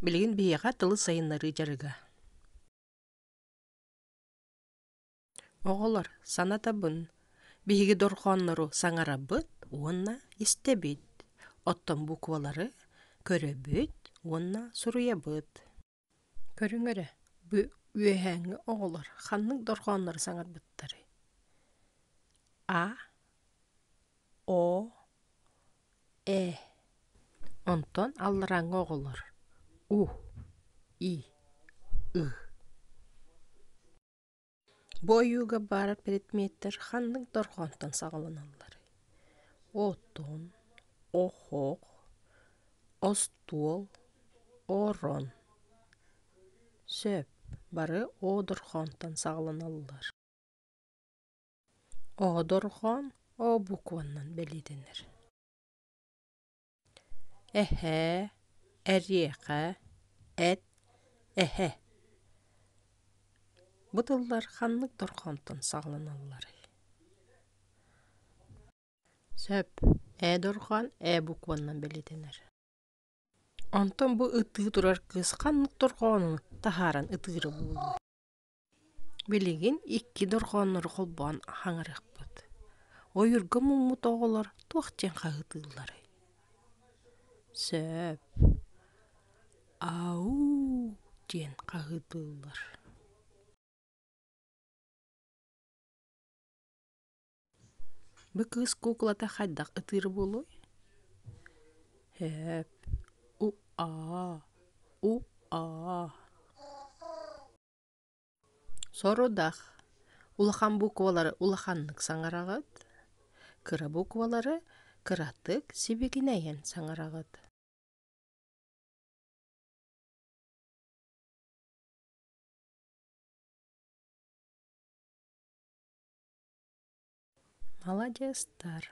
Билигин биһиэхэ тылы сайыннарыы дьарыга. Оҕолор, санатабын, биһиги дорҕооннору саҥарабыт уонна истэбит, оттон буквалары көрөбүт уонна суруйабыт. Көрүҥ эрэ, бу үөһээҥҥи оҕолор ханнык дорҕооннору саҥарбыттарый? А. О. ээ онтон алларааҥҥы оҕолор у и ы бу ойууга баар предметтэр ханнык дорҕоонтон саҕаланаллар оттон оһох остуол орон сөп бары о дорҕоонтон саҕаланаллар Оодорҕоон ообукуонунан бэлиэтэнэр. Эһээ, эриэхэ, эт, эһэ. Бу тыллар ханнык дорҕонтон саҕаланалларый? Сөп. Ээ дорҕоон ээ букуонунан бэлиэтэнэр. Онтон бу ытыы турар кыыс ханнык дорҕоону таһааран ытыыра буолуой? Билигин икки дорҕооннору холбоон хаҥарыахпыт. Ойуурга муммут оҕолор туох диэн хаһытыылларый? Сөп. «Ау» диэн хаһытыыллар Бу кыыс куукулата хайдах ытыыр буолуой? Һээп у-аа у-аа Сорудах улахан буквалары улаханнык саҥараҕыт, кыра буквалары кыратык сибигинэйэн саҥараҕыт. Маладьыастар!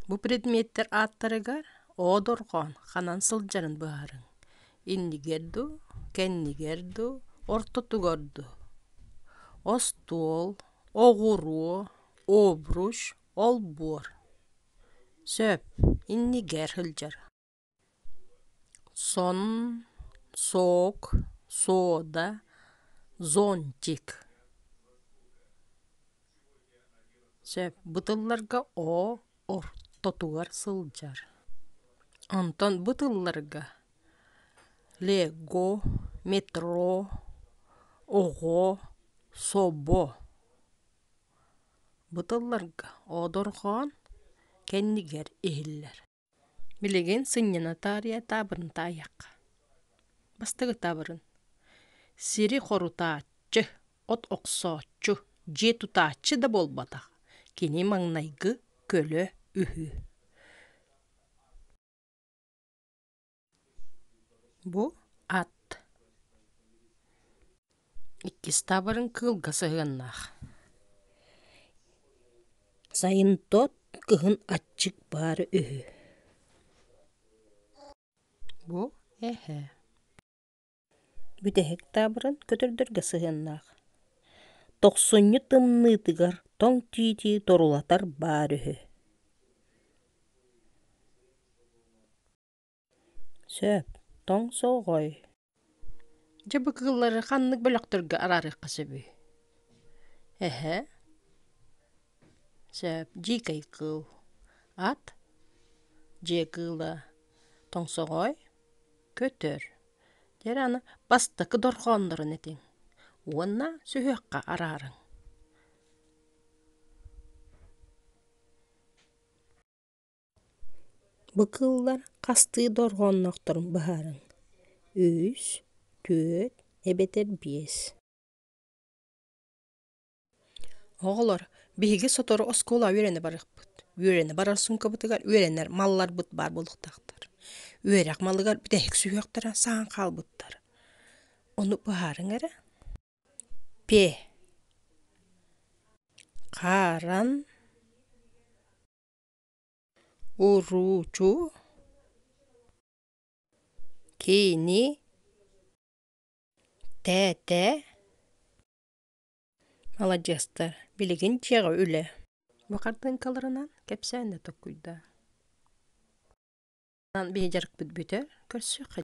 Бу предметтэр ааттарыгар оодорҕоон ханан сылдьарын быһаарыҥ. Иннигэр дуу, кэннигэр дуу, ортотугар дуу. Остуол, оҕуруо, обруч, олбуор. Сөп, иннигэр сылдьар. сон сок сода зонтик чэ бытылларга оо ортотугар сылдьар онтон бытылларга лего метро оҕо собо бытылларга оодорҕоон кэннигэр иһиллэр Билигин сынньана таарыйа таабырын таайыахха. Бастакы таабырын сири хорутааччы, от охсооччу, дьиэ тутааччы да буолбатах кини маҥнайгы көлө үһү Бу ат иккистаабарын кыылга сыһыаннаах. Сайынтоот кыһын аччык баара үһү Бу эһэ Бүтэһик таабырын көтөрдөргө сыһыаннаах. Тохсунньу тымныытыгар тоҥ тиити торулатар баар үһү Сөп, тоҥ солҕой. Дьэ бу кыыллары ханнык бөлөхтөргө араарыахха сөбүй? Эһэ, сөп, дьиикэй кыыл, ат, дьиэ кыыла, тоҥсоҕой, көтөр. Дьэ эрэ аны бастакы дорҕооннорун этиҥ уонна сүһүөххэ араарыҥ. Бу кыыллар хастыы да орҕоонноохторун быһаарыҥ: үс, түөрт эбэтэр биэс. Оҕолор, биһиги сотору оскуола үөрэнэ барыахпыт. Үөрэнэ барар суумкабытыгар үөрэнэр малларбыт баар буолуохтаахтар. Үөрэх малыгар бүтэһик сүһүөхтэрэ саһан хаалбыттар. Ону быһаарыҥ эрэ: пе, харан, Уруучу Кини Тээтэ Маладьыастар билигин дьиэҕэ үлэ бу хартыыҥкаларынан кэпсээн да толкуйдаа биһи дьарыкпыт бүтэ көрсүөххэ